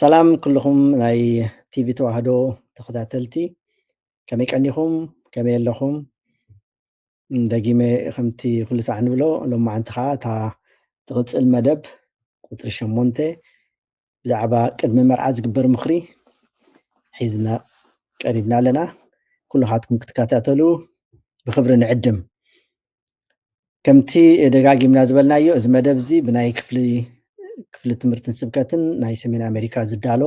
ሰላም ኩልኹም ናይ ቲቪ ተዋህዶ ተኸታተልቲ ከመይ ቀኒኹም ከመይ ኣለኹም ደጊመ ከምቲ ኩሉ ሳዕ ንብሎ ሎማዓንቲ ከዓ እታ ትቕፅል መደብ ቁፅሪ ሸሞንተ ብዛዕባ ቅድሚ መርዓ ዝግበር ምኽሪ ሒዝና ቀሪብና ኣለና ኩልኻትኩም ክትከታተሉ ብክብሪ ንዕድም ከምቲ ደጋጊምና ዝበልናዮ እዚ መደብ እዚ ብናይ ክፍሊ ክፍሊ ትምህርትን ስብከትን ናይ ሰሜን ኣሜሪካ ዝዳሎ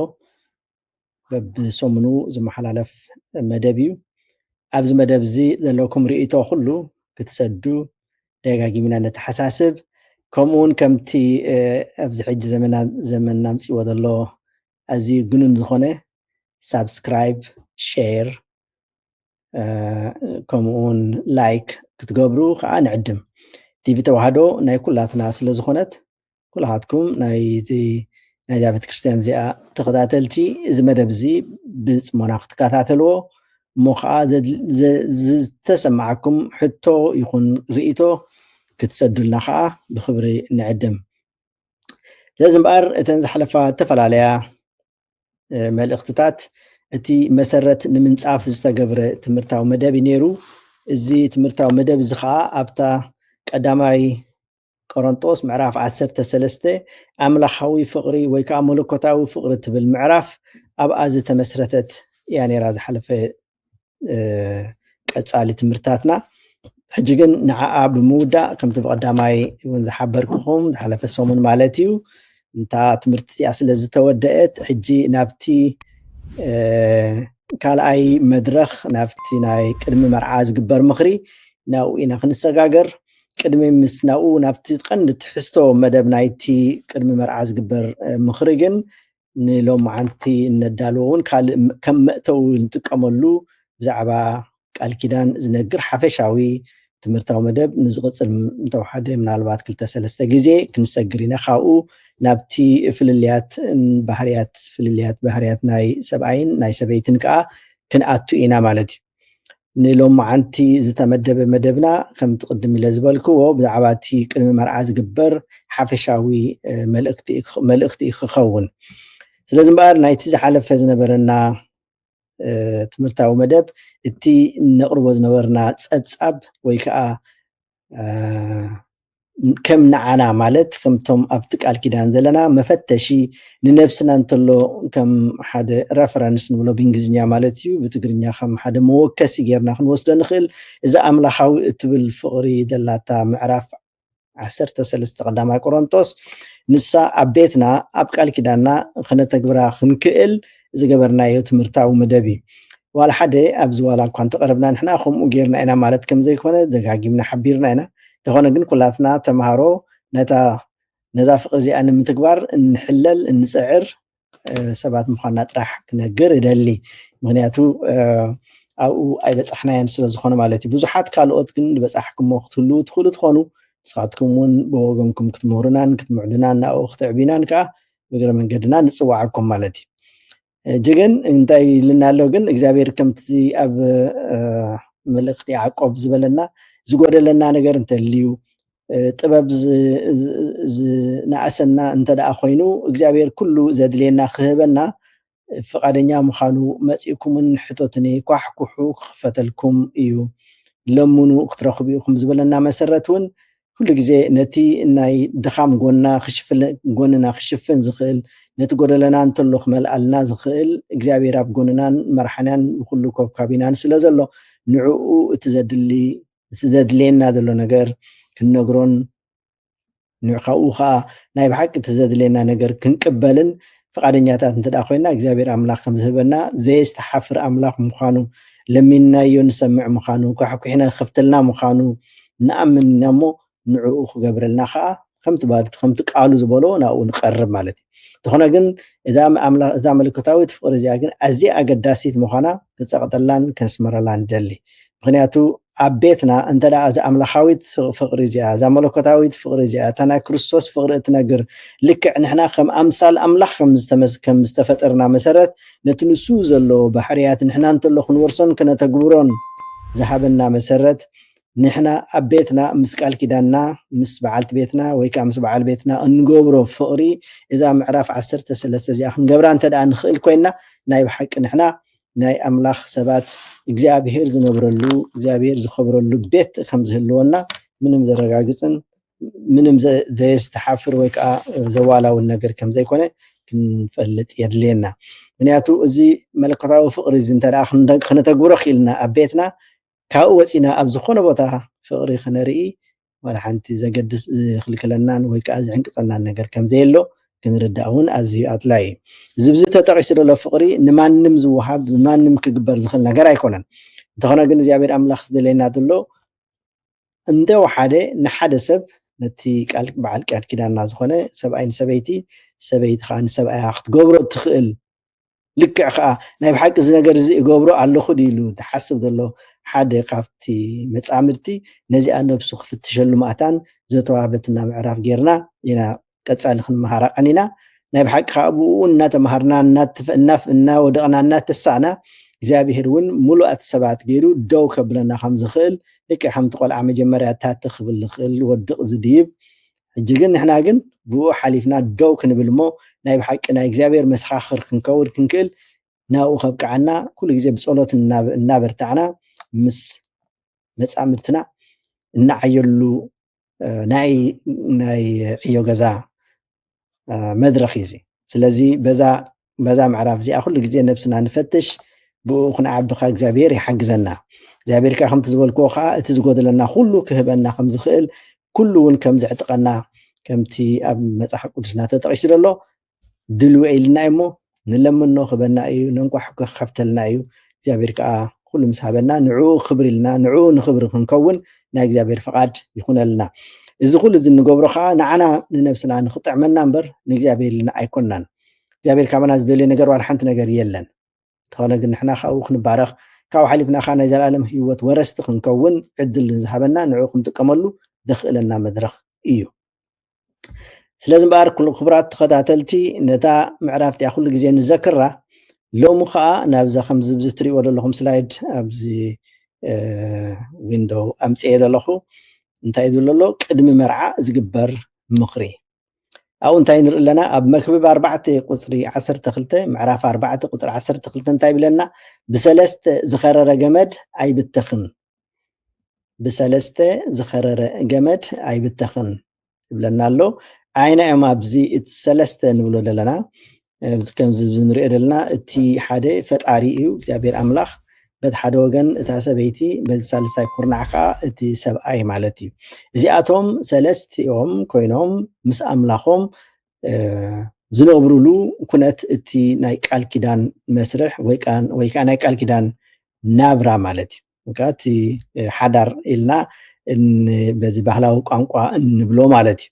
በብሰሙኑ ዝመሓላለፍ መደብ እዩ ኣብዚ መደብ እዚ ዘለኩም ርእቶ ኩሉ ክትሰዱ ደጋጊምና ነተሓሳስብ ከምኡ እውን ከምቲ ኣብዚ ሕጂ ዘመና ዘመን ናምፅዎ ዘሎ ኣዝዩ ግኑን ዝኾነ ሳብስክራይብ ሼር ከምኡ ውን ላይክ ክትገብሩ ከዓ ንዕድም ቲቪ ተዋህዶ ናይ ኩላትና ስለ ዝኾነት ኩላኻትኩም ናይቲ ናይዛ ቤተክርስትያን እዚኣ ተኸታተልቲ እዚ መደብ እዚ ብፅሞና ክትከታተልዎ እሞ ከዓ ዝተሰማዓኩም ሕቶ ይኹን ርእቶ ክትሰዱልና ከዓ ብክብሪ ንዕድም ስለዚ እምበኣር እተን ዝሓለፋ እተፈላለያ መልእኽትታት እቲ መሰረት ንምንጻፍ ዝተገብረ ትምህርታዊ መደብ እዩ ነይሩ እዚ ትምህርታዊ መደብ እዚ ከዓ ኣብታ ቀዳማይ ቆሮንጦስ ምዕራፍ 13 ኣምላኻዊ ፍቕሪ ወይ ከዓ መለኮታዊ ፍቕሪ ትብል ምዕራፍ ኣብኣ ዝተመስረተት እያ ነራ ዝሓለፈ ቀፃሊ ትምህርትታትና ሕጂ ግን ንዓኣ ብምውዳእ ከምቲ ብቀዳማይ እውን ዝሓበርክኹም ዝሓለፈ ሰሙን ማለት እዩ እንታ ትምህርቲ እቲኣ ስለ ዝተወደአት ሕጂ ናብቲ ካልኣይ መድረኽ ናብቲ ናይ ቅድሚ መርዓ ዝግበር ምኽሪ ናብኡ ኢና ክንሰጋገር ቅድሚ ምስ ናብኡ ናብቲ ቀንዲ ትሕዝቶ መደብ ናይቲ ቅድሚ መርዓ ዝግበር ምኽሪ ግን ንሎምዓንቲ እነዳልዎ እውን ካልእ ከም መእተዊ ንጥቀመሉ ብዛዕባ ቃል ኪዳን ዝነግር ሓፈሻዊ ትምህርታዊ መደብ ንዝቕፅል እንተውሓደ ምናልባት ክልተ ሰለስተ ግዜ ክንሰግር ኢና ካብኡ ናብቲ ፍልልያት ባህርያት ፍልልያት ባህርያት ናይ ሰብኣይን ናይ ሰበይትን ከዓ ክንኣቱ ኢና ማለት እዩ ንሎማዓንቲ ዝተመደበ መደብና ከምቲ ቅድም ኢለ ዝበልክዎ ብዛዕባ እቲ ቅድሚ መርዓ ዝግበር ሓፈሻዊ መልእክቲ እዩ ክኸውን ስለዚ እምበኣር ናይቲ ዝሓለፈ ዝነበረና ትምህርታዊ መደብ እቲ ነቕርቦ ዝነበርና ፀብፃብ ወይ ከዓ ከም ንዓና ማለት ከምቶም ኣብቲ ቃል ኪዳን ዘለና መፈተሺ ንነብስና እንተሎ ከም ሓደ ረፈረንስ ንብሎ ብእንግሊዝኛ ማለት እዩ ብትግርኛ ከም ሓደ መወከሲ ጌርና ክንወስዶ ንኽእል እዚ ኣምላኻዊ እትብል ፍቕሪ ዘላታ ምዕራፍ 13 ቀዳማይ ቆሮንጦስ ንሳ ኣብ ቤትና ኣብ ቃል ኪዳንና ክነተግብራ ክንክእል ዝገበርናዮ ትምህርታዊ መደብ እዩ። ዋላ ሓደ ኣብዚ ዋላ እኳ እንተቐረብና ንሕና ከምኡ ገይርና ኢና ማለት ከም ዘይኮነ ደጋጊምና ሓቢርና ኢና። እንተኾነ ግን ኩላትና ተማሃሮ ነታ ነዛ ፍቕሪ እዚኣ ንምትግባር እንሕለል እንጽዕር ሰባት ምዃንና ጥራሕ ክነግር እደሊ። ምክንያቱ ኣብኡ ኣይበጻሕናዮን ስለ ዝኾነ ማለት እዩ። ብዙሓት ካልኦት ግን ዝበጻሕኩሞ ክትህልዉ ትኽእሉ ትኾኑ። ንስኻትኩም እውን ብወገንኩም ክትምህሩናን ክትምዕዱናን ናብኡ ክትዕብዩናን ከዓ እግረ መንገድና ንፅዋዓኩም ማለት እዩ እጂ ግን እንታይ ኢልና ኣሎ ግን እግዚኣብሔር ከምቲ ኣብ መልእክቲ ያዕቆብ ዝበለና ዝጎደለና ነገር እንተልዩ ጥበብ ዝነኣሰና እንተደኣ ኮይኑ እግዚኣብሔር ኩሉ ዘድልየና ክህበና ፍቃደኛ ምኻኑ መጺእኩምን ሕተቱኒ ኳሕኩሑ ክኽፈተልኩም እዩ ለምኑ ክትረኽቡ ኢኹም ዝበለና መሰረት ውን ኩሉ ግዜ ነቲ ናይ ድኻም ጎና ጎንና ክሽፍን ዝኽእል ነቲ ጎደለና እንተሎ ክመልኣልና ዝኽእል እግዚኣብሔር ኣብ ጎንናን መርሓንያን ንኩሉ ኮብካቢናን ስለ ዘሎ ንዕኡ እቲ ዘድሊ እቲ ዘድልየና ዘሎ ነገር ክንነግሮን ካብኡ ከዓ ናይ ብሓቂ እቲ ዘድልየና ነገር ክንቅበልን ፍቃደኛታት እንተድኣ ኮይና እግዚኣብሔር ኣምላክ ከምዝህበና ዘየስተሓፍር ኣምላክ ምኳኑ ለሚንናዮ ንሰምዕ ምኳኑ ኳሕኲሕና ክከፍተልና ምኳኑ ንኣምን ኢና እሞ ንዕኡ ክገብረልና ከዓ ከምቲ ባልቱ ከምቲ ቃሉ ዝበሎ ናብኡ ንቀርብ ማለት እዩ እንተኾነ ግን እዛ መለኮታዊት ፍቅሪ እዚኣ ግን ኣዝያ ኣገዳሲት ምኳና ክንጸቅጠላን ከንስምረላን ንደሊ ምኽንያቱ ኣብ ቤትና እንተ ደኣ እዛ ኣምላኻዊት ፍቕሪ እዚኣ፣ እዛ መለኮታዊት ፍቕሪ እዚኣ፣ እታ ናይ ክርስቶስ ፍቕሪ እትነግር፣ ልክዕ ንሕና ከም ኣምሳል ኣምላኽ ከም ዝተመስ ከም ዝተፈጠርና መሰረት ነቲ ንሱ ዘለዎ ባህርያት ንሕና እንተሎ ክንወርሶን ከነተግብሮን ዝሃበና መሰረት ንሕና ኣብ ቤትና ምስ ቃል ኪዳንና ምስ በዓልቲ ቤትና ወይ ከዓ ምስ በዓል ቤትና እንገብሮ ፍቕሪ እዛ ምዕራፍ ዓሰርተ ሰለስተ እዚኣ ክንገብራ እንተ ደኣ ንኽእል ኮይንና ናይ ብሓቂ ንሕና ናይ ኣምላኽ ሰባት እግዚኣብሄር ዝነብረሉ እግዚኣብሄር ዝኸብረሉ ቤት ከም ዝህልወና ምንም ዘረጋግጽን ምንም ዘየስተሓፍር ወይ ከዓ ዘዋላውን ነገር ከም ዘይኮነ ክንፈልጥ የድልየና ምክንያቱ እዚ መለኮታዊ ፍቕሪ እዚ እንተ ከነተግብሮ ክኢልና ኣብ ቤትና ካብኡ ወጺእና ኣብ ዝኾነ ቦታ ፍቕሪ ክነርኢ ዋላ ሓንቲ ዘገድስ ዝኽልክለናን ወይ ከኣ ዝዕንቅጸናን ነገር ከም ዘየሎ ክንርዳእ እውን ኣዝዩ ኣድላዪ እዩ። እዚ ብዚ ተጠቒሱ ዘሎ ፍቕሪ ንማንም ዝወሃብ ብማንም ክግበር ዝኽእል ነገር ኣይኮነን። እንተኾነ ግን እግዚኣብሔር ኣምላኽ ዝደልየና ዘሎ እንተ ወሓደ ንሓደ ሰብ ነቲ ቃል በዓል ቃል ኪዳንና ዝኾነ ሰብኣይ ንሰበይቲ ሰበይቲ ከኣ ንሰብኣያ ክትገብሮ እትኽእል ልክዕ ከኣ ናይ ብሓቂ እዚ ነገር እዚ እገብሮ ኣለኹ ድዩ ኢሉ ዝሓስብ ዘሎ ሓደ ካብቲ መጻምድቲ ነዚኣ ነብሱ ክፍትሸሉ ማእታን ዘተዋህበትና ምዕራፍ ጌርና ኢና ቀጻሊ ክንመሃራ ቀኒና። ናይ ብሓቂ ከኣ ብእኡ እናተመሃርና እናወደቕና እናተሳእና እግዚኣብሄር እውን ምሉኣት ሰባት ገይሩ ደው ከብለና ከም ዝኽእል ልክዕ ከምቲ ቆልዓ መጀመርያ ታተ ክብል ዝኽእል ወድቕ ዝድይብ ሕጂ ግን ንሕና ግን ብእኡ ሓሊፍና ደው ክንብል እሞ ናይ ብሓቂ ናይ እግዚኣብሔር መሰኻኽር ክንከውን ክንክእል ናብኡ ከብቅዓና ኩሉ ግዜ ብጸሎት እናበርታዕና ምስ መጻምድትና እናዓየሉ ናይ ናይ ዕዮ ገዛ መድረኽ እዩ እዚ ስለዚ በዛ በዛ ምዕራፍ እዚኣ ኩሉ ግዜ ነብስና ንፈትሽ ብኡ ክንዓቢ ከ እግዚኣብሄር ይሓግዘና እግዚኣብሄር ከ ከምቲ ዝበልክዎ ከዓ እቲ ዝጎደለና ኩሉ ክህበና ከም ዝኽእል ኩሉ እውን ከም ዝዕጥቐና ከምቲ ኣብ መፅሓፍ ቅዱስና ተጠቂሱ ዘሎ ድልው ኢልና እዩ እሞ ንለምኖ ክበና እዩ ነንቋሕ ክከፍተልና እዩ እግዚኣብሔር ከዓ ኩሉ ምስ ሃበና ንዕኡ ክብሪ ኢልና ንዕኡ ንክብሪ ክንከውን ናይ እግዚኣብሔር ፍቃድ ይኹነልና እዚ ኩሉ እዚ እንገብሮ ከዓ ንዓና ንነብስና ንክጥዕመና እምበር ንእግዚኣብሔር ኢልና ኣይኮናን እግዚኣብሔር ካባና ዝደልዮ ነገር ዋላ ሓንቲ ነገር የለን እንተኾነ ግን ንሕና ካብኡ ክንባረኽ ካብኡ ሓሊፍና ከዓ ናይ ዘለኣለም ህይወት ወረስቲ ክንከውን ዕድል ንዝሃበና ንዕኡ ክንጥቀመሉ ዘኽእለና መድረኽ እዩ ስለዚ እምበኣር ክቡራት ተኸታተልቲ ነታ ምዕራፍ እቲኣ ኩሉ ግዜ ንዘክራ ሎሚ ከዓ ናብዛ ከምዚ ብዚ ትሪእዎ ዘለኹም ስላይድ ኣብዚ ዊንዶው ኣምፅኤ ዘለኹ እንታይ ዝብሎ ኣሎ ቅድሚ መርዓ ዝግበር ምኽሪ ኣብኡ እንታይ ንርኢ ኣለና ኣብ መክብብ ኣርባዕተ ቁፅሪ ዓሰርተ ክልተ ምዕራፍ ኣርባዕተ ቁፅሪ ዓሰርተ ክልተ እንታይ ይብለና ብሰለስተ ዝኸረረ ገመድ ኣይብተኽን ብሰለስተ ዝኸረረ ገመድ ኣይብተኽን ይብለና ኣሎ ዓይና እዮም ኣብዚ ሰለስተ ንብሎ ዘለና ከምዚ ንሪኦ ዘለና እቲ ሓደ ፈጣሪ እዩ እግዚኣብሔር ኣምላኽ በቲ ሓደ ወገን እታ ሰበይቲ በዚ ሳልሳይ ኩርናዕ ከዓ እቲ ሰብኣይ ማለት እዩ እዚኣቶም ሰለስቲኦም ኮይኖም ምስ ኣምላኾም ዝነብሩሉ ኩነት እቲ ናይ ቃል ኪዳን መስርሕ ወይ ከዓ ናይ ቃል ኪዳን ናብራ ማለት እዩ ወይከዓ እቲ ሓዳር ኢልና በዚ ባህላዊ ቋንቋ እንብሎ ማለት እዩ።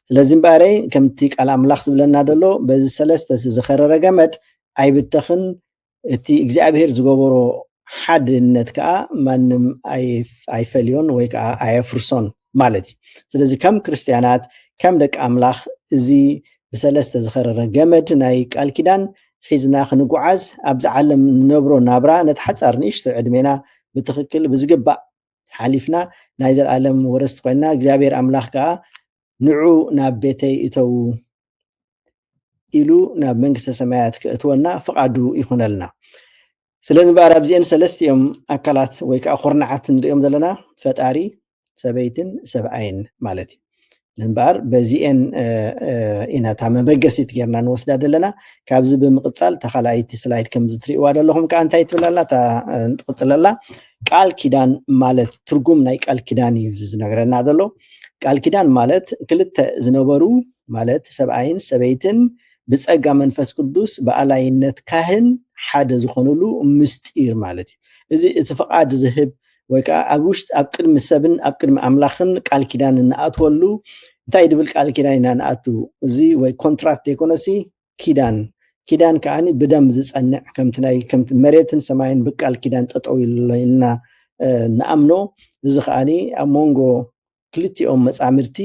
ስለዚ እምበኣረይ ከምቲ ቃል ኣምላኽ ዝብለና ዘሎ በዚ ሰለስተ ዝኸረረ ገመድ ኣይብተኽን እቲ እግዚኣብሄር ዝገበሮ ሓድነት ከዓ ማንም ኣይፈልዮን ወይ ከዓ ኣየፍርሶን ማለት እዩ ስለዚ ከም ክርስትያናት ከም ደቂ ኣምላኽ እዚ ብሰለስተ ዝኸረረ ገመድ ናይ ቃል ኪዳን ሒዝና ክንጓዓዝ ኣብዚ ዓለም ንነብሮ ናብራ ነቲ ሓፃር ንእሽቶ ዕድሜና ብትኽክል ብዝግባእ ሓሊፍና ናይ ዘለኣለም ወረስቲ ኮይና እግዚኣብሔር ኣምላኽ ከዓ ንዑ ናብ ቤተይ እተዉ ኢሉ ናብ መንግስተ ሰማያት ክእትወና ፍቓዱ ይኹነልና ስለዚ እምበኣር ኣብዚኤን ሰለስቲኦም ኣካላት ወይ ከዓ ኩርናዓት ንሪኦም ዘለና ፈጣሪ ሰበይትን ሰብኣይን ማለት እዩ እምበኣር በዚኤን ኢና እታ መበገሲት ጌርና ንወስዳ ዘለና ካብዚ ብምቕፃል እታ ካልኣይቲ ስላይድ ከምዚ ትሪእዋ ዘለኹም ከዓ እንታይ ትብል ኣላ እታ ንትቕፅለላ ቃል ኪዳን ማለት ትርጉም ናይ ቃል ኪዳን እዩ እዚ ዝነገረና ዘሎ ቃል ኪዳን ማለት ክልተ ዝነበሩ ማለት ሰብኣይን ሰበይትን ብጸጋ መንፈስ ቅዱስ ብኣላይነት ካህን ሓደ ዝኾኑሉ ምስጢር ማለት እዩ። እዚ እቲ ፍቓድ ዝህብ ወይ ከዓ ኣብ ውሽጥ ኣብ ቅድሚ ሰብን ኣብ ቅድሚ ኣምላኽን ቃል ኪዳን እንኣትወሉ እንታይ ድብል ቃል ኪዳን ኢና ንኣቱ እዚ ወይ ኮንትራት ዘይኮነሲ ኪዳን ኪዳን ከዓኒ ብደም ዝጸንዕ ከምቲ ናይ ከምቲ መሬትን ሰማይን ብቃል ኪዳን ጠጠው ኢልና ንኣምኖ እዚ ከዓኒ ኣብ መንጎ ክልቲኦም መጻምድቲ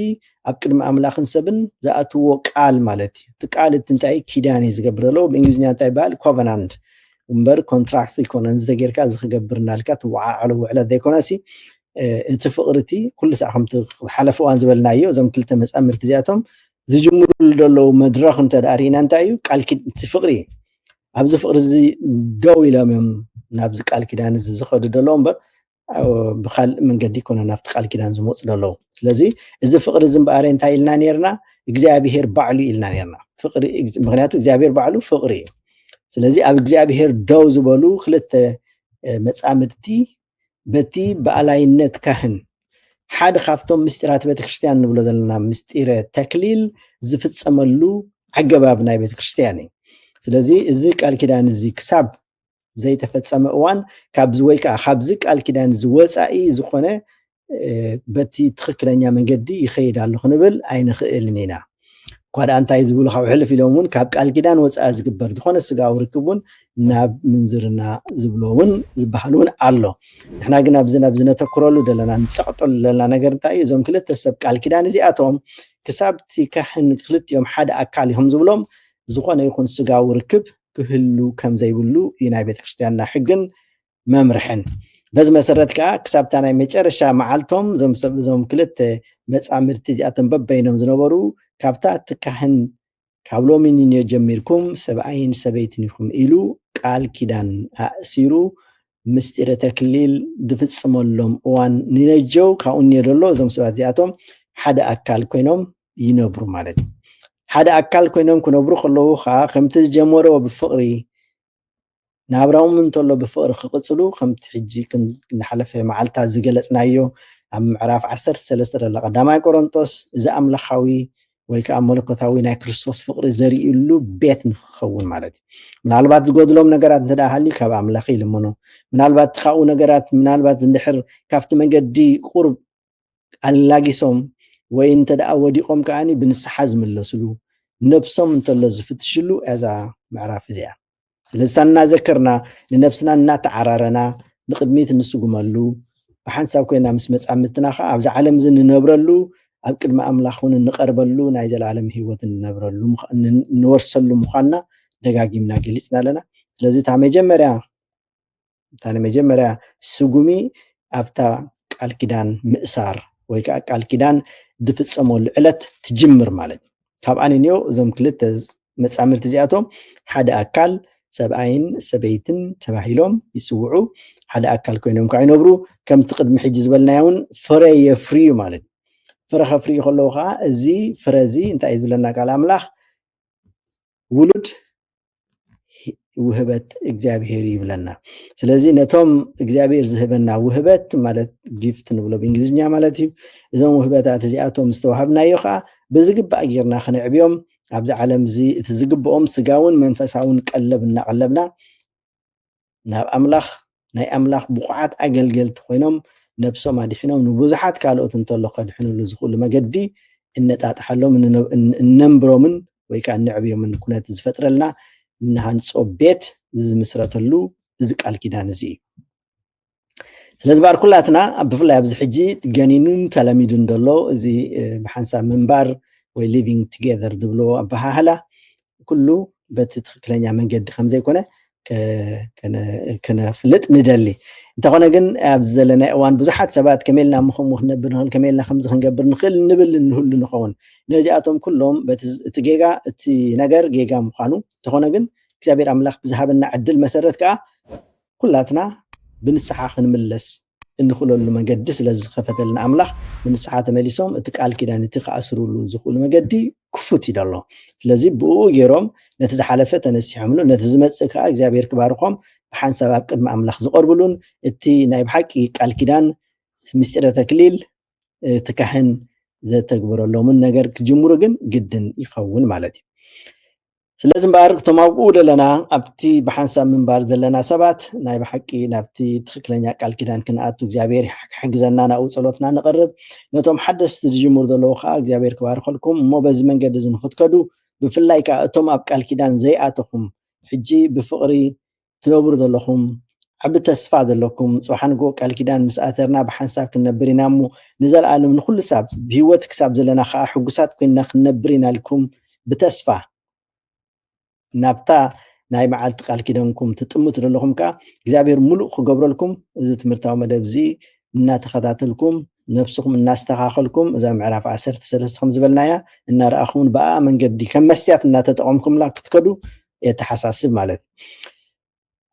ኣብ ቅድሚ ኣምላኽን ሰብን ዝኣትውዎ ቃል ማለት እዩ። እቲ ቃል እቲ እንታይ እዩ? ኪዳን እዩ ዝገብረሎ። ብእንግሊዝኛ እንታይ ይበሃል? ኮቨናንት እምበር ኮንትራክት ኣይኮነን። እዚ ተጌርካ እዚ ክገብር እናልካ ትወዓዓሎ ውዕለት ዘይኮነሲ እቲ ፍቕሪ እቲ ኩሉ ሳዕ ከምቲ ኣብ ሓለፈ እዋን ዝበልናዮ እዞም ክልተ መጻምድቲ እዚኣቶም ዝጅምርሉ ዘለዉ መድረኽ እንተ ደኣ ርኢና እንታይ እዩ? ቃል እቲ ፍቕሪ እዩ። ኣብዚ ፍቕሪ እዚ ደው ኢሎም እዮም ናብዚ ቃል ኪዳን እዚ ዝኸዱ ዘለዉ እምበር ብካልእ መንገዲ ይኮነ ናብቲ ቃል ኪዳን ዝመፁ ዘለዉ ስለዚ እዚ ፍቅሪ እዚ እምበኣረ እንታይ ኢልና ነርና እግዚኣብሄር ባዕሉ ኢልና ነርና ፍቅሪ ምክንያቱ እግዚኣብሄር ባዕሉ ፍቅሪ እዩ ስለዚ ኣብ እግዚኣብሄር ደው ዝበሉ ክልተ መፃምድቲ በቲ ብኣላይነት ካህን ሓደ ካብቶም ምስጢራት ቤተክርስትያን ንብሎ ዘለና ምስጢረ ተክሊል ዝፍፀመሉ ኣገባብ ናይ ቤተክርስትያን እዩ ስለዚ እዚ ቃል ኪዳን እዚ ክሳብ ዘይተፈፀመ እዋን ካብዚ ወይ ከዓ ካብዚ ቃል ኪዳን እዚ ወፃኢ ዝኾነ በቲ ትኽክለኛ መንገዲ ይኸይድ ኣሎ ክንብል ኣይንኽእልን ኢና እኳ ደኣ እንታይ ዝብሉ ካብ ሕልፍ ኢሎም እውን ካብ ቃል ኪዳን ወፃኢ ዝግበር ዝኾነ ስጋዊ ርክብ እውን ናብ ምንዝርና ዝብሎ እውን ዝበሃል እውን ኣሎ ንሕና ግን ኣብዚ ናብ ዝነተክረሉ ዘለና ንፀቕጠሉ ዘለና ነገር እንታይ እዩ እዞም ክልተ ሰብ ቃል ኪዳን እዚኣቶም ክሳብቲ ካሕን ክልቲኦም ሓደ ኣካል እዮም ዝብሎም ዝኾነ ይኹን ስጋዊ ርክብ ክህሉ ከም ዘይብሉ እዩ ናይ ቤተክርስትያንና ሕግን መምርሕን። በዚ መሰረት ከኣ ክሳብ እታ ናይ መጨረሻ መዓልቶም እዞም ሰብ እዞም ክልተ መጻምድቲ እዚኣቶም በበይኖም ዝነበሩ ካብታ እቲ ካህን ካብ ሎሚ ንንዮ ጀሚርኩም ሰብኣይን ሰበይትን ኢኹም ኢሉ ቃል ኪዳን ኣእሲሩ ምስጢረ ተክሊል ዝፍጽመሎም እዋን ንነጀው ካብኡ ንዮ ደሎ እዞም ሰባት እዚኣቶም ሓደ ኣካል ኮይኖም ይነብሩ ማለት እዩ ሓደ ኣካል ኮይኖም ክነብሩ ከለዉ ከዓ ከምቲ ዝጀመሮ ብፍቕሪ ናብራኦም እንተሎ ብፍቕሪ ክቕፅሉ ከምቲ ሕጂ ክንሓለፈ መዓልትታት ዝገለፅናዮ ኣብ ምዕራፍ 13 ደለ ቀዳማይ ቆሮንጦስ እዚ ኣምላኻዊ ወይ ከዓ መለኮታዊ ናይ ክርስቶስ ፍቕሪ ዘርእሉ ቤት ንክኸውን ማለት እዩ ምናልባት ዝጎድሎም ነገራት እንተ ሃልዩ ካብ ኣምላኽ ይልምኑ ምናልባት እቲ ካብኡ ነገራት ምናልባት እንድሕር ካብቲ መንገዲ ቁርብ ኣላጊሶም ወይ እንተደኣ ወዲቆም ከኣ ብንስሓ ዝምለስሉ ነብሶም እንተሎ ዝፍትሽሉ እያ እዛ ምዕራፍ እዚኣ። ስለዚ እታ እናዘከርና ንነብስና እናተዓራረና ንቅድሚት እንስጉመሉ ብሓንሳብ ኮይና ምስ መጻምድትና ከኣ ኣብዚ ዓለም እዚ ንነብረሉ ኣብ ቅድሚ ኣምላኽ እውን እንቀርበሉ ናይ ዘላለም ህይወት እንነብረሉ እንወርሰሉ ምዃንና ደጋጊምና ገሊጽና ኣለና። ስለዚ እታ መጀመርያ እታ ንመጀመርያ ስጉሚ ኣብታ ቃል ኪዳን ምእሳር ወይ ከኣ ቃል ኪዳን ዝፍጸመሉ ዕለት ትጅምር ማለት እዩ። ካብኣ ንንዮ እዞም ክልተ መጻምድቲ እዚኣቶም ሓደ ኣካል፣ ሰብኣይን ሰበይትን፣ ተባሂሎም ይጽውዑ፣ ሓደ ኣካል ኮይኖም ከኣ ይነብሩ፣ ከምቲ ቅድሚ ሕጂ ዝበልናዮ እውን ፍረ የፍርዩ ማለት እዩ። ፍረ ከፍርዩ ከለዉ ከኣ እዚ ፍረ እዚ እንታይ እዩ ዝብለና ቃል ኣምላኽ ውሉድ ውህበት እግዚኣብሄር ይብለና ስለዚ ነቶም እግዚኣብሄር ዝህበና ውህበት ማለት ጊፍት ንብሎ ብእንግሊዝኛ ማለት እዩ እዞም ውህበታት እዚኣቶም ዝተዋሃብናዮ ከዓ ብዝግባእ ጌርና ክንዕብዮም ኣብዚ ዓለም እዚ እቲ ዝግብኦም ስጋውን መንፈሳውን ቀለብ እናቀለብና ናብ ኣምላኽ ናይ ኣምላኽ ብቑዓት ኣገልገልቲ ኮይኖም ነብሶም ኣድሒኖም ንብዙሓት ካልኦት እንተሎ ከድሕንሉ ዝኽእሉ መገዲ እነጣጥሓሎም እነንብሮምን ወይ ከኣ እነዕብዮምን ኩነት ዝፈጥረልና እንሃንጾ ቤት ዝምስረተሉ እዚ ቃል ኪዳን እዚ እዩ ስለዚ ባር ኩላትና ብፍላይ ኣብዚ ሕጂ ገኒኑን ተለሚዱን ዘሎ እዚ ብሓንሳብ ምንባር ወይ ሊቪንግ ቱጌዘር ዝብልዎ ኣበሃህላ ኩሉ በቲ ትክክለኛ መንገዲ ከምዘይኮነ ክነፍልጥ ንደሊ እንተኾነ ግን ኣብዚ ዘለናይ እዋን ብዙሓት ሰባት ከመይ ኢልና እሞ ከምኡ ክንነብር ንኽእል ከመይ ኢልና ከምዚ ክንገብር ንኽእል ንብል እንህሉ ንኸውን ነዚኣቶም ኩሎም በቲ እቲ ጌጋ እቲ ነገር ጌጋ ምዃኑ እንተኾነ ግን እግዚኣብሔር ኣምላኽ ብዝሃበና ዕድል መሰረት ከዓ ኩላትና ብንስሓ ክንምለስ እንኽእለሉ መገዲ ስለ ዝኸፈተልና ኣምላኽ ንንስሓ ተመሊሶም እቲ ቃል ኪዳን እቲ ክኣስርሉ ዝኽእሉ መገዲ ክፉት እዩ ዘሎ ስለዚ ብእኡ ገይሮም ነቲ ዝሓለፈ ተነሲሖምሉ ነቲ ዝመጽእ ከዓ እግዚኣብሔር ክባርኾም ብሓንሳብ ኣብ ቅድሚ ኣምላኽ ዝቐርብሉን እቲ ናይ ብሓቂ ቃል ኪዳን ምስጢረ ተክሊል እቲ ካህን ዘተግብረሎምን ነገር ክጅምሩ ግን ግድን ይኸውን ማለት እዩ ስለዚ እምበኣር እቶም ኣብኡ ዘለና ኣብቲ ብሓንሳብ ምንባር ዘለና ሰባት ናይ ብሓቂ ናብቲ ትኽክለኛ ቃል ኪዳን ክንኣቱ እግዚኣብሔር ክሕግዘና ናብኡ ጸሎትና ንቕርብ ነቶም ሓደስቲ ዝጅምሩ ዘለዉ ከዓ እግዚኣብሔር ክባርኸልኩም እሞ በዚ መንገዲ እዚ ንክትከዱ ብፍላይ ከዓ እቶም ኣብ ቃል ኪዳን ዘይኣተኹም ሕጂ ብፍቕሪ ትነብሩ ዘለኹም ዓቢ ተስፋ ዘለኩም ጽባሕ ንግሆ ቃል ኪዳን ምስ ኣተርና ብሓንሳብ ክንነብር ኢና እሞ ንዘለኣለም ንኹሉ ሳብ ብህይወት ክሳብ ዘለና ከኣ ሕጉሳት ኮይንና ክንነብር ኢና ኢልኩም ብተስፋ ናብታ ናይ መዓልቲ ቃል ኪደንኩም ትጥምቱ ዘለኹም ከዓ እግዚኣብሔር ሙሉእ ክገብረልኩም እዚ ትምህርታዊ መደብ እዚ እናተኸታተልኩም ነብስኹም እናስተኻኸልኩም እዛ ምዕራፍ ዓሰርተ ሰለስተ ከም ዝበልናያ እናረኣኹምን ብኣ መንገዲ ከም መስትያት እናተጠቐምኩምላ ክትከዱ የተሓሳስብ ማለት እዩ።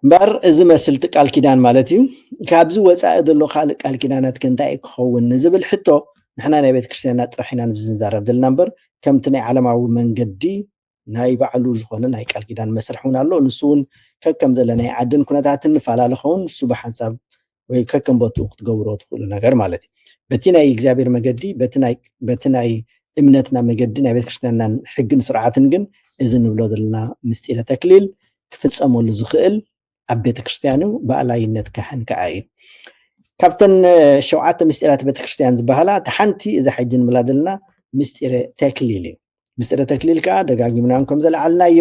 እምበኣር እዚ መስልቲ ቃል ኪዳን ማለት እዩ። ካብዚ ወፃኢ ዘሎ ካልእ ቃል ኪዳናት ከ እንታይ እዩ ክኸውን ንዝብል ሕቶ ንሕና ናይ ቤተ ክርስቲያንና ጥራሕ ኢና ንብዚ ንዛረብ ዘለና እምበር ከምቲ ናይ ዓለማዊ መንገዲ ናይ ባዕሉ ዝኾነ ናይ ቃል ኪዳን መስርሕ እውን ኣሎ። ንሱ እውን ከከም ዘለናይ ዓድን ኩነታትን ንፈላለ ኸውን ንሱ ብሓንሳብ ወይ ከከም ቦትኡ ክትገብሮ ትኽእሉ ነገር ማለት እዩ በቲ ናይ እግዚኣብሔር መገዲ በቲ ናይ እምነትና መገዲ ናይ ቤተክርስትያንናን ሕግን ስርዓትን ግን እዚ ንብሎ ዘለና ምስጢረ ተክሊል ክፍፀመሉ ዝኽእል ኣብ ቤተክርስትያኑ ብኣላይነት ካህን ከዓ እዩ ካብተን ሸውዓተ ምስጢራት ቤተክርስትያን ዝበሃላ እቲ ሓንቲ እዛ ሕጂ ንብላ ዘለና ምስጢረ ተክሊል እዩ ምስጢረ ተክሊል ከዓ ደጋጊምና ከም ዘለዓልናዮ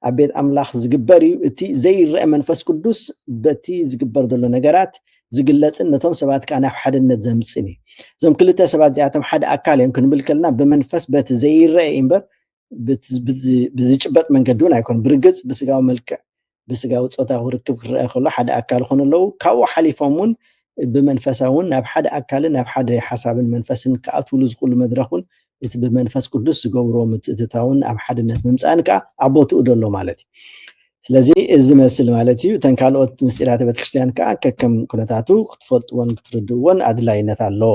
ኣብ ቤት ኣምላኽ ዝግበር እዩ እቲ ዘይረአ መንፈስ ቅዱስ በቲ ዝግበር ዘሎ ነገራት ዝግለፅን ነቶም ሰባት ከዓ ናብ ሓድነት ዘምፅን እዩ እዞም ክልተ ሰባት እዚኣቶም ሓደ ኣካል እዮም ክንብል ከለና ብመንፈስ በቲ ዘይረአ እዩ እምበር ብዝጭበጥ መንገዲ እውን ኣይኮን ብርግፅ ብስጋዊ መልክዕ ብስጋዊ ጾታዊ ርክብ ክርኣ ከሎ ሓደ ኣካል ይኾኑ ኣለዉ። ካብኡ ሓሊፎም እውን ብመንፈሳዊ እውን ናብ ሓደ ኣካልን ናብ ሓደ ሓሳብን መንፈስን ክኣትውሉ ዝኽእሉ መድረኽ እውን እቲ ብመንፈስ ቅዱስ ዝገብርዎ ምትእትታውን ኣብ ሓድነት ምምፃእን ከዓ ኣብ ቦትኡ ዶ ኣሎ ማለት እዩ። ስለዚ እዚ መስል ማለት እዩ እተን ካልኦት ምስጢራተ ቤተክርስትያን ከዓ ከከም ኩነታቱ ክትፈልጥዎን ክትርድእዎን ኣድላይነት ኣለዎ።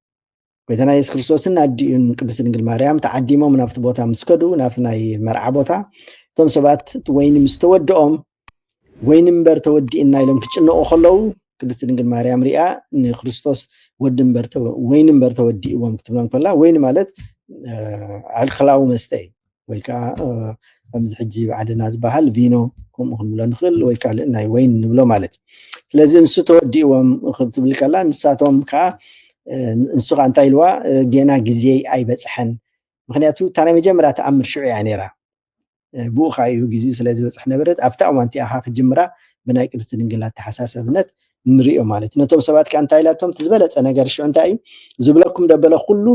ጎይታና የሱስ ክርስቶስን ኣዲኡን ቅድስት ድንግል ማርያም ተዓዲሞም ናብቲ ቦታ ምስ ከዱ ናብቲ ናይ መርዓ ቦታ እቶም ሰባት እቲ ወይኒ ምስ ተወድኦም ወይኒ እምበር ተወዲእና ኢሎም ክጭነቑ ከለዉ ቅድስት ድንግል ማርያም ሪኣ ንክርስቶስ ወዲ እምበር ወይኒ እምበር ተወዲእዎም ክትብሎም ከላ ወይኒ ማለት ኣልኮላዊ መስተ እዩ ወይ ከዓ ከምዚ ሕጂ ባዕድና ዝበሃል ቪኖ ከምኡ ክንብሎ ንኽእል ወይ ካልእ ናይ ወይን ንብሎ ማለት እዩ ስለዚ እንሱ ተወዲእዎም ክትብል ከላ ንሳቶም ከዓ እንሱ ከዓ እንታይ ኢልዋ ጌና ግዜ ኣይበፅሐን ምክንያቱ እታ ናይ መጀመርያ ተኣምር ሽዑ እያ ነይራ ብኡ ከዓ እዩ ግዜኡ ስለ ዝበፅሕ ነበረት ኣብታ እዋን እቲኣ ከዓ ክጅምራ ብናይ ቅድስቲ ድንግል ኣተሓሳሰብነት ንሪኦ ማለት እዩ ነቶም ሰባት ከዓ እንታይ ኢላቶም እቲ ዝበለፀ ነገር ሽዑ እንታይ እዩ ዝብለኩም ደበለ ኩሉ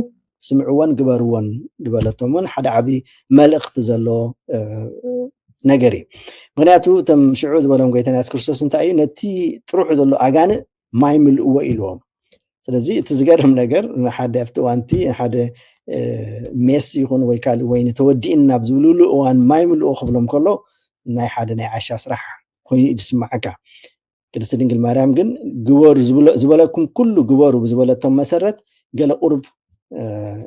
ስምዕዎን ግበርዎን ዝበለቶም እውን ሓደ ዓብዪ መልእኽቲ ዘለዎ ነገር እዩ ምክንያቱ እቶም ሽዑ ዝበሎም ጎይታና የሱስ ክርስቶስ እንታይ እዩ ነቲ ጥሩሑ ዘሎ ኣጋንእ ማይ ምልእዎ ኢልዎም ስለዚ እቲ ዝገርም ነገር ንሓደ ኣብቲ እዋንቲ ሓደ ሜስ ይኹን ወይ ካልእ ወይኒ ተወዲእን ናብ ዝብልሉ እዋን ማይ ምልእዎ ክብሎም ከሎ ናይ ሓደ ናይ ዓሻ ስራሕ ኮይኑ እዩ ዝስማዓካ ቅድስቲ ድንግል ማርያም ግን ግበሩ ዝበለኩም ኩሉ ግበሩ ብዝበለቶም መሰረት ገለ ቁርብ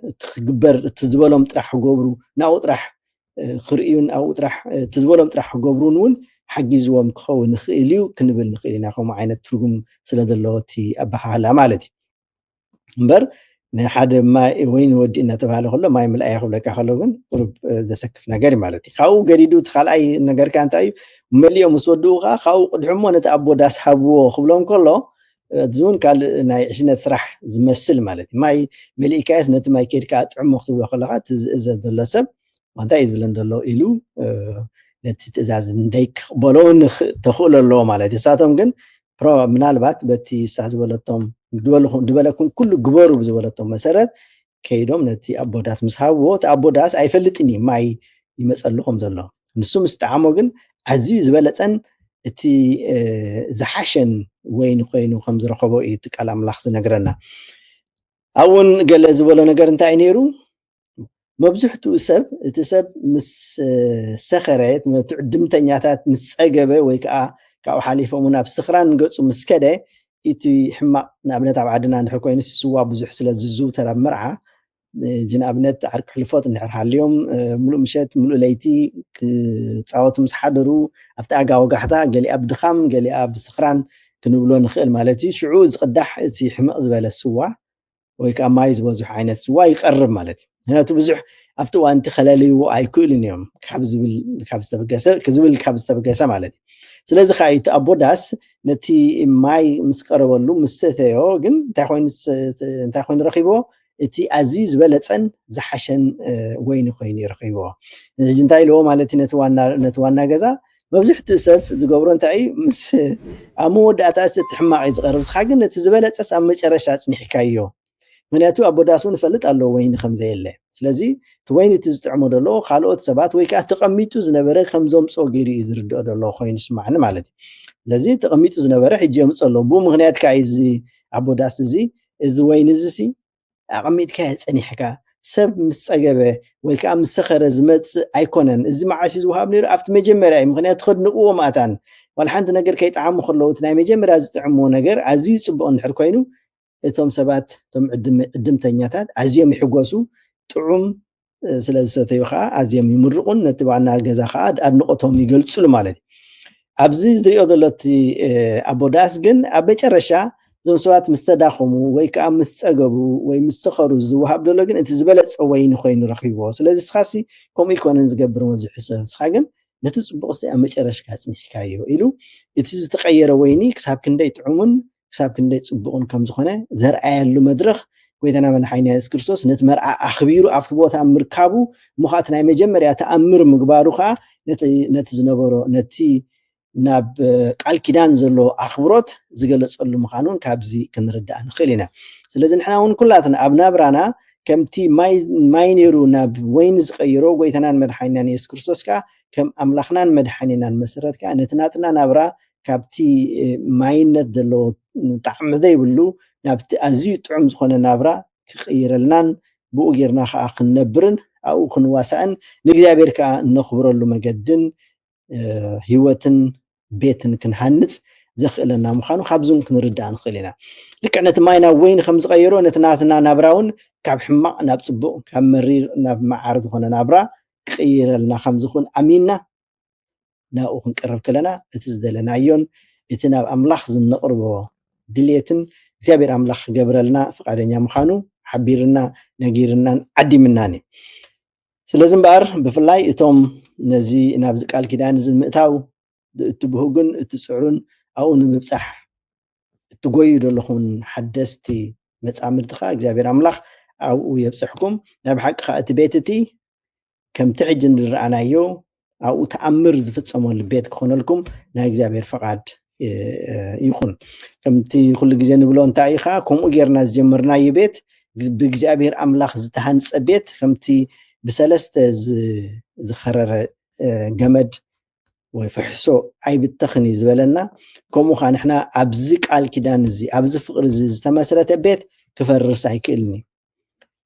እትግበር እቲ ዝበሎም ጥራሕ ክገብሩ ናብኡ ጥራሕ ክርእዩን ኣብኡ ጥራሕ እቲ ዝበሎም ጥራሕ ክገብሩን እውን ሓጊዝዎም ክኸውን ይኽእል እዩ ክንብል ንኽእል ኢና ከምኡ ዓይነት ትርጉም ስለ ዘለዎ እቲ ኣበሃህላ ማለት እዩ እምበር ንሓደ ማይ ወይ ንወዲ እናተባሃለ ከሎ ማይ ምልኣይ ክብለካ ከሎ ግን ቁሩብ ዘሰክፍ ነገር እዩ ማለት እዩ ካብኡ ገዲዱ እቲ ካልኣይ ነገርካ እንታይ እዩ መሊኦም ምስ ወድኡ ከዓ ካብኡ ቅድሑ እሞ ነቲ ኣቦ ዳስ ሃብዎ ክብሎም ከሎ እዚ እውን ካልእ ናይ ዕሽነት ስራሕ ዝመስል ማለት እዩ ማይ መሊእካየስ ነቲ ማይ ከድካ ጥዕሞ ክትብሎ ከለካ እቲ ዝእዘዝ ዘሎ ሰብ እንታይ እዩ ዝብለን ዘሎ ኢሉ ነቲ ትእዛዝ እንደይክቕበሎ ተኽእሎ ኣለዎ ማለት እዩ ንሳቶም ግን ፕሮባብ ምናልባት በቲ እሳ ዝበለቶም ዝበለኩም ኩሉ ግበሩ ብዝበለቶም መሰረት ከይዶም ነቲ ኣቦ ዳስ ምስ ሃብዎ እቲ ኣቦ ዳስ ኣይፈልጥን እዩ ማይ ይመፀልኹም ዘሎ ንሱ ምስ ጠዓሞ ግን ኣዝዩ ዝበለፀን እቲ ዝሓሸን ወይኒ ኮይኑ ከም ዝረኸቦ እዩ እቲ ቃል ኣምላኽ ዝነግረና ኣብኡን ገለ ዝበሎ ነገር እንታይ እዩ ነይሩ መብዝሕትኡ ሰብ እቲ ሰብ ምስ ሰኸረ ትዕድምተኛታት ምስ ፀገበ ወይ ከዓ ካብኡ ሓሊፎም ናብ ስኽራን ገፁ ምስ ከደ እቲ ሕማቕ ንኣብነት ኣብ ዓድና እንድሕር ኮይኑ ስዋ ብዙሕ ስለ ዝዝውተር ኣብ መርዓ እዚ ንኣብነት ዓርኪ ሕልፎት እንድሕር ሃልዮም ሙሉእ ምሸት ሙሉእ ለይቲ ክፃወቱ ምስ ሓደሩ ኣብቲ ኣጋ ወጋሕታ ገሊኣ ብድኻም ገሊኣ ብስኽራን ክንብሎ ንኽእል ማለት እዩ ሽዑ ዝቕዳሕ እቲ ሕምቕ ዝበለ ስዋ ወይ ከዓ ማይ ዝበዝሖ ዓይነት ስዋ ይቐርብ ማለት እዩ። ምክንያቱ ብዙሕ ኣብቲ እዋን እቲ ከለልይዎ ኣይክእሉን እዮም ካብ ዝብል ካብ ዝተበገሰ ዝብል ካብ ዝተበገሰ ማለት እዩ። ስለዚ ከዓ እቲ ኣቦ ዳስ ነቲ ማይ ምስ ቀረበሉ ምስ ሰተዮ ግን እንታይ ኮይኑ እንታይ ኮይኑ ረኺቦ እቲ ኣዝዩ ዝበለፀን ዝሓሸን ወይኒ ኮይኑ ይረኺቦ። እዚ እንታይ ኢልዎ ማለት እዩ ነቲ ዋና ነቲ ዋና ገዛ መብዝሕትኡ ሰብ ዝገብሮ እንታይ እዩ ምስ ኣብ መወዳእታ እዚ እቲ ሕማቕ እዩ ዝቐርብ እስኻ ግን ነቲ ዝበለጸስ ኣብ መጨረሻ ኣጽኒሕካዮ ምክንያቱ ኣቦ ዳስ እውን ይፈልጥ ኣሎ ወይኒ ከም ዘየለ ስለዚ እቲ ወይኒ እቲ ዝጥዕሞ ደሎ ካልኦት ሰባት ወይ ከዓ ተቐሚጡ ዝነበረ ከም ዘምፅኦ ገይሩ እዩ ዝርድኦ ደሎ ኮይኑ ይስማዕኒ ማለት እዩ ስለዚ ተቐሚጡ ዝነበረ ሕጂ የምፅኦ ኣሎ ብኡ ምክንያት ከዓ እዚ ኣቦ ዳስ እዚ እዚ ወይኒ እዚ ሲ ኣቐሚጥካዮ ጸኒሕካ ሰብ ምስ ጸገበ ወይ ከዓ ምስ ሰኸረ ዝመጽእ ኣይኮነን እዚ መዓስ እዩ ዝወሃብ ነይሩ ኣብቲ መጀመርያ እዩ ምክንያቱ ከድንቕዎ መኣታን ዋላ ሓንቲ ነገር ከይጠዓሙ ከለዉ እቲ ናይ መጀመርያ ዝጥዕምዎ ነገር ኣዝዩ ጽቡቕ እንድሕር ኮይኑ እቶም ሰባት እቶም ዕድምተኛታት ኣዝዮም ይሕጎሱ ጥዑም ስለ ዝሰተዩ ከዓ ኣዝዮም ይምርቑን ነቲ ዋና ገዛ ከዓ ኣድንቖቶም ይገልፅሉ ማለት እዩ ኣብዚ ዝሪኦ ዘሎ እቲ ኣቦ ዳስ ግን ኣብ መጨረሻ እዞም ሰባት ምስ ተዳኸሙ ወይ ከዓ ምስ ፀገቡ ወይ ምስ ሰኸሩ ዝወሃብ ዘሎ ግን እቲ ዝበለፀ ወይኒ ኮይኑ ረኺብዎ ስለዚ ስኻሲ ከምኡ ይኮነን ዝገብር መብዝሑ ሰብ ስኻ ግን ነቲ ፅቡቕሲ ኣብ መጨረሽካ ፅኒሕካዮ ኢሉ እቲ ዝተቐየረ ወይኒ ክሳብ ክንደይ ጥዑሙን ክሳብ ክንደይ ጽቡቕን ከም ዝኾነ ዘርኣየሉ መድረኽ ጎይታና መድሓኒና የሱስ ክርስቶስ ነቲ መርዓ ኣኽቢሩ ኣብቲ ቦታ ምርካቡ እሞ ከዓ እቲ ናይ መጀመርያ ተኣምር ምግባሩ ከዓ ነቲ ዝነበሮ ነቲ ናብ ቃል ኪዳን ዘለዎ ኣኽብሮት ዝገለጸሉ ምዃኑ እውን ካብዚ ክንርዳእ ንኽእል ኢና ስለዚ ንሕና እውን ኩላትና ኣብ ናብራና ከምቲ ማይ ነይሩ ናብ ወይኒ ዝቀይሮ ጎይታናን መድሓኒናን የሱስ ክርስቶስ ከዓ ከም ኣምላኽናን መድሓኒናን መሰረት ከዓ ነቲ ናትና ናብራ ካብቲ ማይነት ዘለዎ ጣዕሚ ዘይብሉ ናብቲ ኣዝዩ ጥዑም ዝኾነ ናብራ ክቕይረልናን ብኡ ጌርና ከኣ ክንነብርን ኣብኡ ክንዋሳእን ንእግዚኣብሔር ከኣ እነኽብረሉ መገድን ሕይወትን ቤትን ክንሃንጽ ዘኽእለና ምዃኑ ካብዚ እውን ክንርዳእ ንኽእል ኢና ልክዕ ነቲ ማይ ናብ ወይኒ ከም ዝቐየሮ ነቲ ናትና ናብራ እውን ካብ ሕማቕ ናብ ጽቡቕ ካብ መሪር ናብ መዓር ዝኾነ ናብራ ክቕይረልና ከም ዝኽእል ኣሚንና ናብኡ ክንቀርብ ከለና እቲ ዝደለናዮን እቲ ናብ ኣምላኽ ዝነቕርቦ ድሌትን እግዚኣብሔር ኣምላኽ ክገብረልና ፍቓደኛ ምዃኑ ሓቢርና ነጊርናን ዓዲምናን እዩ። ስለዚ እምበኣር ብፍላይ እቶም ነዚ ናብዚ ቃል ኪዳን እዚ ምእታው እትብህጉን እትፅዕሩን ኣብኡ ንምብፃሕ እትጎዩ ዘለኹን ሓደስቲ መፃምድቲ ከዓ እግዚኣብሔር ኣምላኽ ኣብኡ የብፅሕኩም። ናይ ብሓቂ ከዓ እቲ ቤት እቲ ከምቲ ሕጂ ንረኣናዮ ኣብኡ ተኣምር ዝፍፀመሉ ቤት ክኾነልኩም ናይ እግዚኣብሔር ፈቓድ ይኹን ከምቲ ኩሉ ግዜ ንብሎ እንታይ እዩ ከዓ ከምኡ ጌርና ዝጀመርናዮ ቤት ብእግዚኣብሔር ኣምላኽ ዝተሃንፀ ቤት ከምቲ ብሰለስተ ዝኸረረ ገመድ ወይ ፍሕሶ ኣይብተኽን እዩ ዝበለና ከምኡ ከዓ ንሕና ኣብዚ ቃል ኪዳን እዚ ኣብዚ ፍቅሪ እዚ ዝተመስረተ ቤት ክፈርስ ኣይክእልን እዩ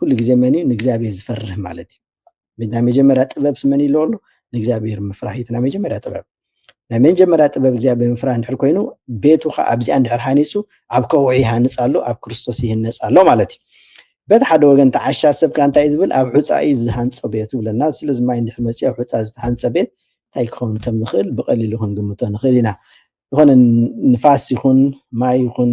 ኩሉ ግዜ መን እዩ ንእግዚኣብሔር ዝፈርህ ማለት እዩ ናይ መጀመርያ ጥበብ ስመን ይለዎ ኣሎ ንእግዚኣብሔር ምፍራህ እዩ ናይ መጀመርያ ጥበብ ናይ መጀመርያ ጥበብ እግዚኣብሔር ምፍራህ እንድሕር ኮይኑ ቤቱ ከዓ ኣብዚኣ እንድሕር ሃኒፁ ኣብ ከውዒ ይሃንፅ ኣሎ ኣብ ክርስቶስ ይህነፅ ኣሎ ማለት እዩ በቲ ሓደ ወገን ተዓሻ ሰብ ከዓ እንታይ ዝብል ኣብ ሑፃ እዩ ዝሃንፆ ቤት ይብለና ስለዚ ማይ እንድሕር መፅኡ ኣብ ሑፃ ዝተሃንፀ ቤት እንታይ ክኸውን ከም ዝኽእል ብቐሊሉ ክንግምቶ ንኽእል ኢና ዝኾነ ንፋስ ይኹን ማይ ይኹን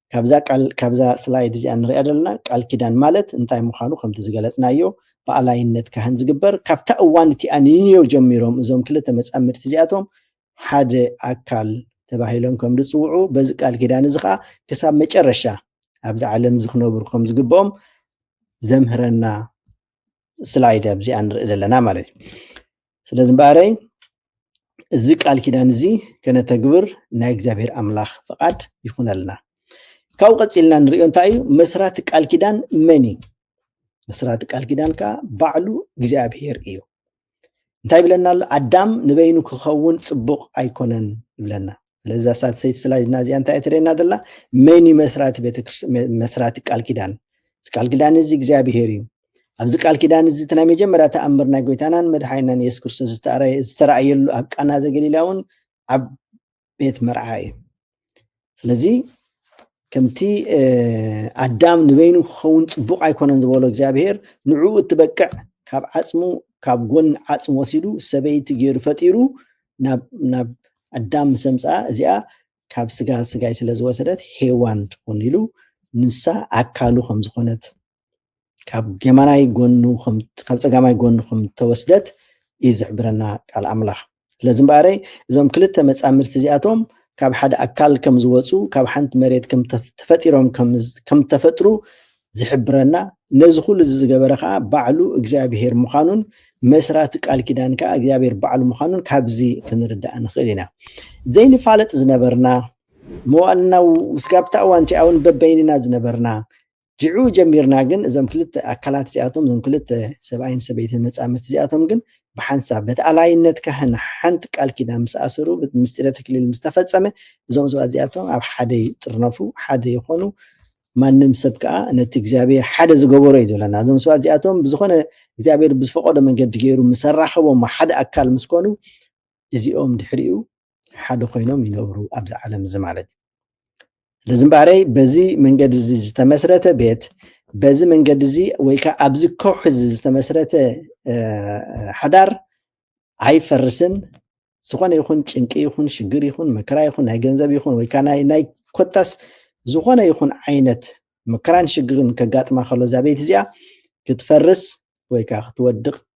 ካብዛ ቃል ካብዛ ስላይድ እዚኣ ንሪኣ ዘለና ቃል ኪዳን ማለት እንታይ ምዃኑ ከምቲ ዝገለጽናዮ ብኣላይነት ካህን ዝግበር ካብታ እዋን እቲኣ ንንዮ ጀሚሮም እዞም ክልተ መጻምድቲ እዚኣቶም ሓደ ኣካል ተባሂሎም ከም ዝጽውዑ በዚ ቃል ኪዳን እዚ ከዓ ክሳብ መጨረሻ ኣብዚ ዓለም እዚ ክነብሩ ከም ዝግብኦም ዘምህረና ስላይድ ኣብዚኣ ንርኢ ዘለና ማለት እዩ ስለዚ እምበኣረይ እዚ ቃል ኪዳን እዚ ከነተግብር ናይ እግዚኣብሔር ኣምላኽ ፍቓድ ይኹነልና ካብኡ ቀፂልና ንሪኦ እንታይ እዩ መስራቲ ቃል ኪዳን መን እዩ መስራቲ ቃል ኪዳን ከዓ ባዕሉ እግዚኣብሔር እዩ እንታይ ይብለና ኣሎ ኣዳም ንበይኑ ክኸውን ፅቡቕ ኣይኮነን ይብለና ስለዚ ሳትሰይቲ ስላይድና እዚኣ እንታይ እትርእየና ዘላ መን እዩ መስራቲ መስራቲ ቃል ኪዳን እዚ ቃል ኪዳን እዚ እግዚኣብሄር እዩ ኣብዚ ቃል ኪዳን እዚ እቲ ናይ መጀመርያ ተኣምር ናይ ጎይታናን መድሓይናን የሱስ ክርስቶስ ዝተረኣየሉ ኣብ ቃና ዘገሊላ እውን ኣብ ቤት መርዓ እዩ ስለዚ ከምቲ ኣዳም ንበይኑ ክኸውን ፅቡቅ ኣይኮነን ዝበሎ እግዚኣብሄር ንዕኡ እትበቅዕ ካብ ዓፅሙ ካብ ጎን ዓፅሙ ወሲዱ ሰበይቲ ገይሩ ፈጢሩ ናብ ኣዳም ምስ ኣምፅኣ እዚኣ ካብ ስጋ ስጋይ ስለ ዝወሰደት ሄዋን ትኹን ኢሉ ንሳ ኣካሉ ከም ዝኾነት ካብ ጌማናይ ጎኑ ካብ ፀጋማይ ጎኑ ከም ተወስደት እዩ ዝሕብረና ቃል ኣምላኽ ስለዚ እምበኣረይ እዞም ክልተ መፃምድቲ እዚኣቶም ካብ ሓደ ኣካል ከም ዝወፁ ካብ ሓንቲ መሬት ተፈጢሮም ከም ተፈጥሩ ዝሕብረና ነዚ ኩሉ እዚ ዝገበረ ከዓ ባዕሉ እግዚኣብሄር ምዃኑን መስራቲ ቃል ኪዳን ከዓ እግዚኣብሄር ባዕሉ ምዃኑን ካብዚ ክንርዳእ ንኽእል ኢና ዘይንፋለጥ ዝነበርና መዋእልና ስጋብታ እዋን ቲኣውን በበይንና ዝነበርና ጅዑ ጀሚርና ግን እዞም ክልተ ኣካላት እዚኣቶም እዞም ክልተ ሰብኣይን ሰበይትን መጻምድቲ እዚኣቶም ግን ብሓንሳብ በቲ ኣላይነት ካህን ሓንቲ ቃል ኪዳን ምስ ኣሰሩ ምስጢረ ተክሊል ምስ ተፈጸመ እዞም ሰባት እዚኣቶም ኣብ ሓደ ይጥርነፉ ሓደ ይኾኑ ማንም ሰብ ከዓ ነቲ እግዚኣብሔር ሓደ ዝገበሮ እዩ ዝብለና እዞም ሰባት እዚኣቶም ብዝኾነ እግዚኣብሔር ብዝፈቀዶ መንገዲ ገይሩ ምሰራኸቦም ሓደ ኣካል ምስ ኮኑ እዚኦም ድሕሪኡ ሓደ ኮይኖም ይነብሩ ኣብዚ ዓለም እዚ ማለት እዩ ስለዚ እምበኣረይ በዚ መንገዲ እዚ ዝተመስረተ ቤት በዚ መንገዲ እዚ ወይ ከዓ ኣብዚ ከውሒ እዚ ዝተመስረተ ሓዳር ኣይፈርስን ዝኾነ ይኹን ጭንቂ ይኹን ሽግር ይኹን መከራ ይኹን ናይ ገንዘብ ይኹን ወይ ከዓ ናይ ኮታስ ዝኾነ ይኹን ዓይነት መከራን ሽግርን ከጋጥማ ከሎ እዛ ቤት እዚኣ ክትፈርስ ወይ ከዓ ክትወድቕ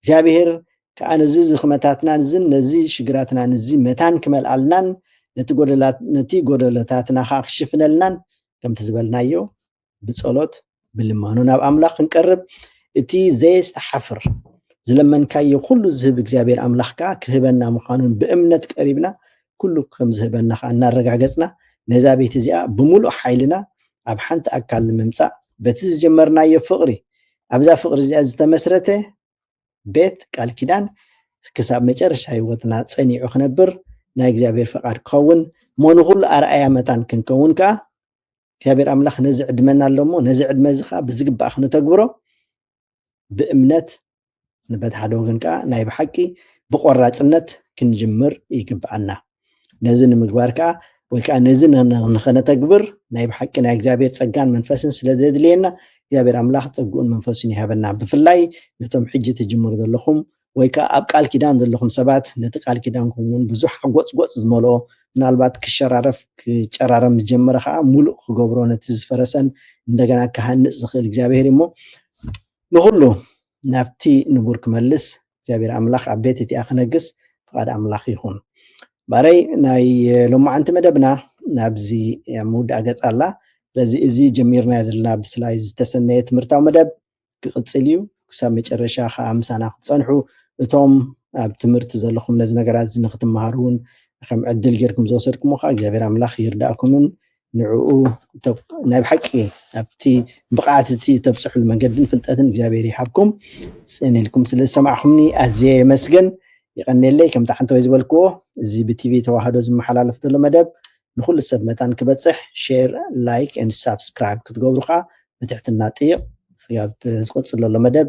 እግዚኣብሔር ከኣ ነዚ ዝኽመታትናን እዝን ነዚ ሽግራትናን እዚ መታን ክመልኣልናን ነቲ ጎደሎታትና ከኣ ክሽፍነልናን ከምቲ ዝበልናዮ ብጸሎት ብልማኖ ናብ ኣምላኽ ክንቀርብ እቲ ዘየስተሓፍር ዝለመንካዮ ኩሉ ዝህብ እግዚኣብሔር ኣምላኽ ከኣ ክህበና ምዃኑን ብእምነት ቀሪብና ኩሉ ከም ዝህበና ከኣ እናረጋገጽና ነዛ ቤት እዚኣ ብምሉእ ሓይልና ኣብ ሓንቲ ኣካል ንምምጻእ በቲ ዝጀመርናዮ ፍቕሪ ኣብዛ ፍቕሪ እዚኣ ዝተመስረተ ቤት ቃል ኪዳን ክሳብ መጨረሻ ህይወትና ጸኒዑ ክነብር ናይ እግዚኣብሔር ፈቃድ ክኸውን እሞ ንኹሉ ኣርኣያ መታን ክንከውን ከዓ እግዚኣብሔር ኣምላኽ ነዚ ዕድመና ኣሎ እሞ ነዚ ዕድመ እዚ ከዓ ብዝግባእ ክንተግብሮ ብእምነት በቲ ሓደ ወገን ከዓ ናይ ብሓቂ ብቆራፅነት ክንጅምር ይግብኣና ነዚ ንምግባር ከዓ ወይ ከዓ ነዚ ንኸነተግብር ናይ ብሓቂ ናይ እግዚኣብሔር ፀጋን መንፈስን ስለ ዘድልየና እግዚኣብሔር ኣምላኽ ፀግኡን መንፈሱን ይሃበና ብፍላይ ነቶም ሕጂ ትጅምሩ ዘለኹም ወይ ከዓ ኣብ ቃል ኪዳን ዘለኹም ሰባት ነቲ ቃል ኪዳንኩም እውን ብዙሕ ሓጎፅጎፅ ዝመልኦ ምናልባት ክሸራረፍ ክጨራረም ዝጀመረ ከዓ ሙሉእ ክገብሮ ነቲ ዝፈረሰን እንደገና ክሃንፅ ዝኽእል እግዚኣብሔር እሞ ንኹሉ ናብቲ ንቡር ክመልስ እግዚኣብሔር ኣምላኽ ኣብ ቤት እቲኣ ክነግስ ፍቓድ ኣምላኽ ይኹን። ባረይ ናይ ሎማዓንቲ መደብና ናብዚ ኣብ ምውዳእ ገጽ ኣላ። ስለዚ እዚ ጀሚርናዮ ዘለና ብስላይ ዝተሰነየ ትምህርታዊ መደብ ክቕጽል እዩ። ክሳብ መጨረሻ ከዓ ምሳና ክትጸንሑ እቶም ኣብ ትምህርቲ ዘለኹም ነዚ ነገራት እዚ ንክትመሃሩ እውን ከም ዕድል ጌርኩም ዝወሰድኩሞ ከዓ እግዚኣብሔር ኣምላኽ ይርዳእኩምን ንዕኡ ናይ ብሓቂ ኣብቲ ብቕዓት እቲ እተብጽሕሉ መንገድን ፍልጠትን እግዚኣብሔር ይሃብኩም። ጽን ኢልኩም ስለ ዝሰማዕኹምኒ ኣዝየ የመስግን። ይቐኔለይ ከምቲ ሓንተወይ ዝበልክዎ እዚ ብቲቪ ተዋህዶ ዝመሓላለፍ ዘሎ መደብ ንኹሉ ሰብ መታን ክበጽሕ ሼር ላይክ ን ሳብስክራይብ ክትገብሩ ከኣ ብትሕትና ጥይቕ። ኣብ ዝቕጽል ዘሎ መደብ